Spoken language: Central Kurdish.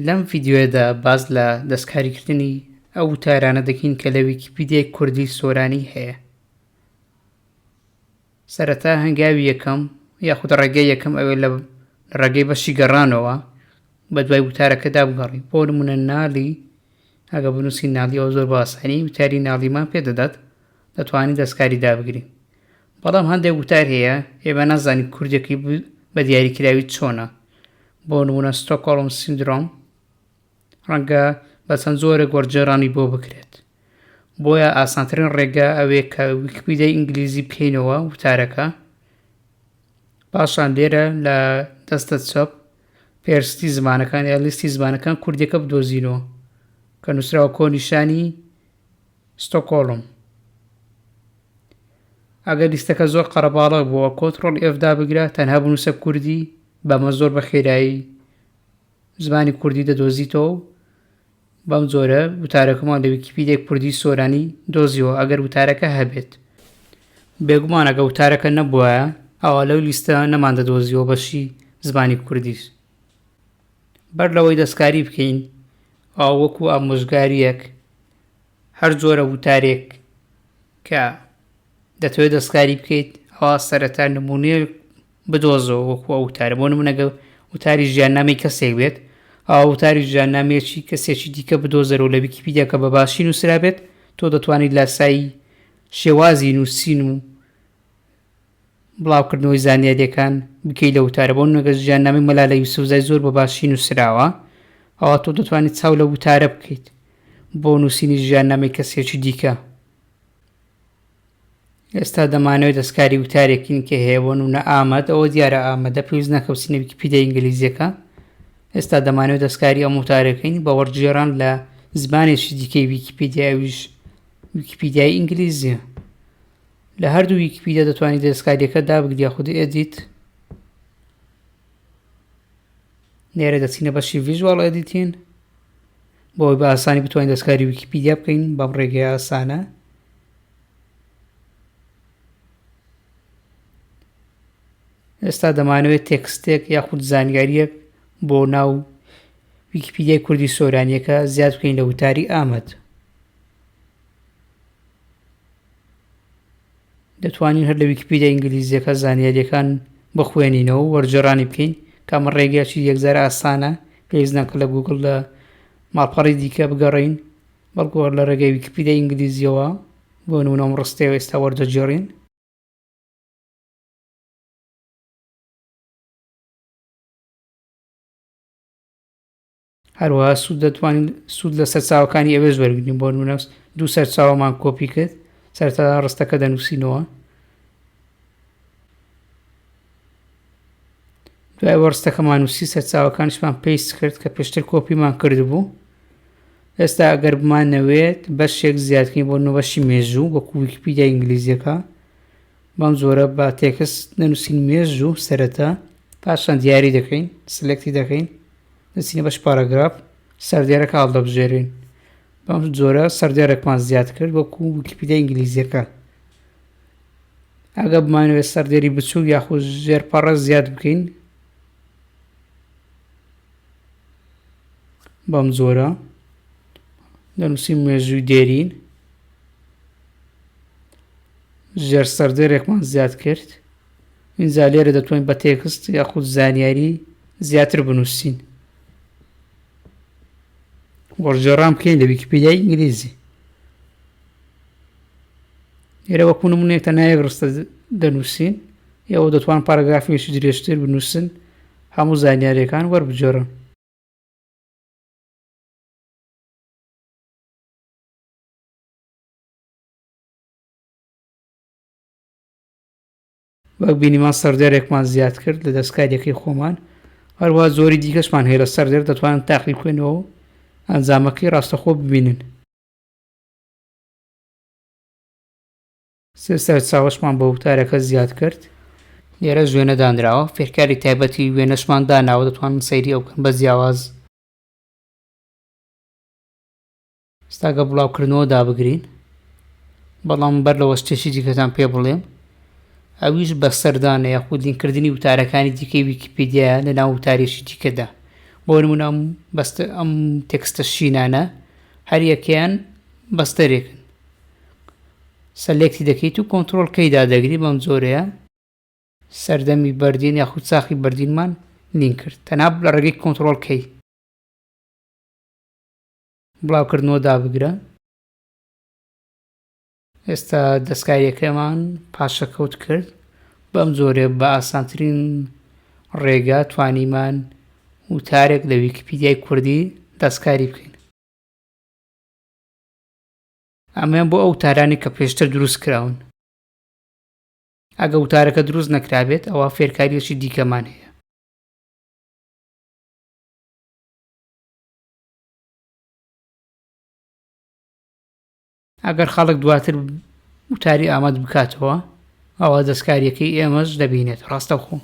لەم ڤیددیوەدا باز لە دەستکاریکردنی ئەو وتارانە دەکەین کە لە ویکیپیدیای کوردی سۆرانی هەیە سەرەتا هەنگاوی یەکەم یاخود ڕێگەی یەکەم ئەوێ لە ڕێگەی بەشی گەڕانەوە بە دوای وتارەکەدا بگەڕی بۆ منە نالی ئەگە بنووسی نالیەوە زۆر باسانی وتاری ناڵیمان پێدەدات دەتوانی دەستکاری دابگری بەڵام هەندێک وتار هەیە ئێمە نازانی کوردێکی بە دیاریکراوی چۆنە بۆ نمونە ستۆکۆڵم سندرۆم ڕەنگە بە چەند جۆرێک وەرجێڕانی بۆ بکرێت بۆیە ئاسانترین ڕێگە ئەوێ کە ویکپیدای ئینگلیزی بکەینەوە وتارەکە پاشان لێرە لە دەستە چەپ پێرستی زمانەکان یا لیستی زمانەکان کوردێکە بدۆزینەوە کە نووسراوە کۆنیشانی ستۆکۆڵم ئەگەر لیستەکە زۆر قەرەباڵغ بووە کۆترۆڵ ئێف دابگرە تەنها بنووسە کوردی بەمە زۆر بە خێرایی زمانی کوردی دەدۆزیتەوە و بەم جۆرە وتارەکەمان لە ویکیپیدێک کوردی سۆرانی دۆزیەوە ئەگەر وتارەکە هەبێت بێگومانەکە وتارەکە نەبووە ئەوە لەو لیستە نەمان دەدۆزیەوە بەشی زمانی کوردیش بەر لەوەی دەستکاری بکەین و وەکو ئامۆژگاریەک هەر جۆرە وتارێک کە دەتەوێت دەستکاری بکەیت ئەوا سەرەتا نمونێ بدۆزەوە وەکو ئەو وتارە بۆ نمونەگە وتاری ژیاننامی کەسێک بێت ئەو وتاری ژیاننامێکی کەسێکی دیکە بدۆزەرەوە لە ویکیپیدیاکە بە باشی نووسرابێت تۆ دەتوانیت لاسایی شێوازی نووسین و بڵاوکردنەوەی زانیاریەکان بکەی لە وتارە بۆ نمونە گەر ژیاننامەی مەلالە یوسفزای زۆر بە باشی نوسراوە ئەوا تۆ دەتوانیت چاو لە وتارە بکەیت بۆ نووسینی ژیاننامەی کەسێکی دیکە ئێستا دەمانەوەی دەستکاری وتارێکین کە هەیە بۆ نمونە ئامەد ئەوە دیارە ئامەدە پێویست ناکەوسینە ویکیپیدیا ئینگلیزیەکە ئێستا دەمانەوە دەستکاری ئەم وتارەکەین بە وەرگێڕان لە زمانێکی دیکەی ویکیپیدیاویش ویکیپیدیای ئینگلیزیە لە هەردوو ویکیپیدیا دەتوانیت دەستکاریەکە دابگری یاخود ئێدیت لێرە دەچینە بەشی ڤیژوال ئەدیتین بۆی بە ئاسانی بتوانین دەستکاری ویکیپیدیا بکەین بەم ڕێگەی ئاسانە ئێستا دەمانەوێت تێکستێک یاخود زانیاریەک بۆ ناو ویکیپیدیای کوردی سۆرانیەکە زیاد بکەین لە وتاری ئامەد دەتوانین هەر لە ویکیپیدیا ئینگلیزیەکە زانیاریەکان بخوێنینەوە وەرجێڕانی بکەین کامە ڕێگەیەکی یەکجار ئاسانە پێویست ناکە لە گوگڵ لە ماڵپەڕی دیکە بگەڕین بەڵکو هەر لە ڕێگەی ویکیپیدیا ئینگلیزیەوە بۆ نمونە ئەم ڕستەیە ئێستا وەردەگێڕین هەروەها سوود دەتوانین سوود لە سەرچاوەکانی ئەوێش وەرگین بۆ نمونە دوو سەرچاوەمان کۆپی کرد سەرتا ڕستەکە دەنووسینەوە دوای وەڕستەکەمان نووسی سەرچاوەکانشمان پێست کرد کە پێشتر کۆپیمان کردبوو ئێستا ئەگەر بمان نەوێت بەشێک زیادکەین بۆ نوبەشی مێژوو وەکو ویکیپیدیا ئینگلیزیەکە بەم جۆرە با تێکست نەنووسین مێژوو سەرەتا پاشان دیاری دەکەین سلکتی دەکەین دەچینە بەش پاراگراف سەردێرەکە هەڵدەبژێرین بەم جۆرە سەردێرەکمان زیاد کرد وەکو ویکیپیدیا ئینگلیزیەکە ئەگە بمانوێت سەردێری بچوو یاخود ژێر پەڕە زیاد بکەین بەم جۆرە دەنووسین مێژووی دێرین ژێر سەردێرێکمان زیاد کرد ئینجا لێرە دەتوانین بە تێکست یاخود زانیاری زیاتر بنووسین وەرجێڕان بکەین لە ویکیپیدیای ئینگلیزی لێرە وەکو نمونێک تەنها یەک ڕستە دەنووسین یەوە دەتوان پاراگرافێکی درێژتر بنووسن هەموو زانیارەکان وەربجێڕن وەک بینیمان سەردەرێکمان زیاد کرد لە دەستکاریەکەی خۆمان هەروە زۆری دیکەشمان هەیە لە سەردەر دەتوانن تاقی بکەنەوە ئەنجامەکەی ڕاستەخۆ ببینن سێ سەرچاوشمان بە وتارەکە زیاد کرد لێرە ژوێنە دانراوە فێرکاری تایبەتی وێنەشمان داناوە دەتوانن سەیری ئەو بکەن بە جیاواز ستاگە بڵاو کردنەوە دابگرین بەڵام بەر لەوە شتێکی دیکەتان پێ بڵێم ئەویش بە سەردانە یاخود لینکردنی وتارەکانی دیکەی ویکیپیدیایە لە ناو وتارێکی دیکەدا بۆ نمونام بەست ئەم تێکستە شینانە هەریەکەیان بەستەرێکن سەلێکتی دەکەیت و کۆنتترۆل کەیدا دەگری بەم جۆرەیە سەردەمی بەردین یاخود ساخی بەردینمان لینکرد تەناب لە ڕێگەی کۆنتترۆل کەی بڵاوکردنەوە دابگرە. ئێستا دەستکاریەکەمان پاشەکەوت کرد بەم جۆرێ بە ئاسانترین ڕێگا توانیمان وتارێک لە ویکیپیدیای کوردی دەستکاری بکەین ئەمەیان بۆ ئەو تارانی کە پێشتر دروست کراون ئەگە وتارەکە دروست نەکرابێت ئەوە فێرکاریەکی دیکەمان هەیە ئەگەر خەڵک دواتر وتاری ئاماد بکاتەوە، ئەوا دەستکارییەکەی ئێمەش دەبینێت. ڕاستەوخۆ.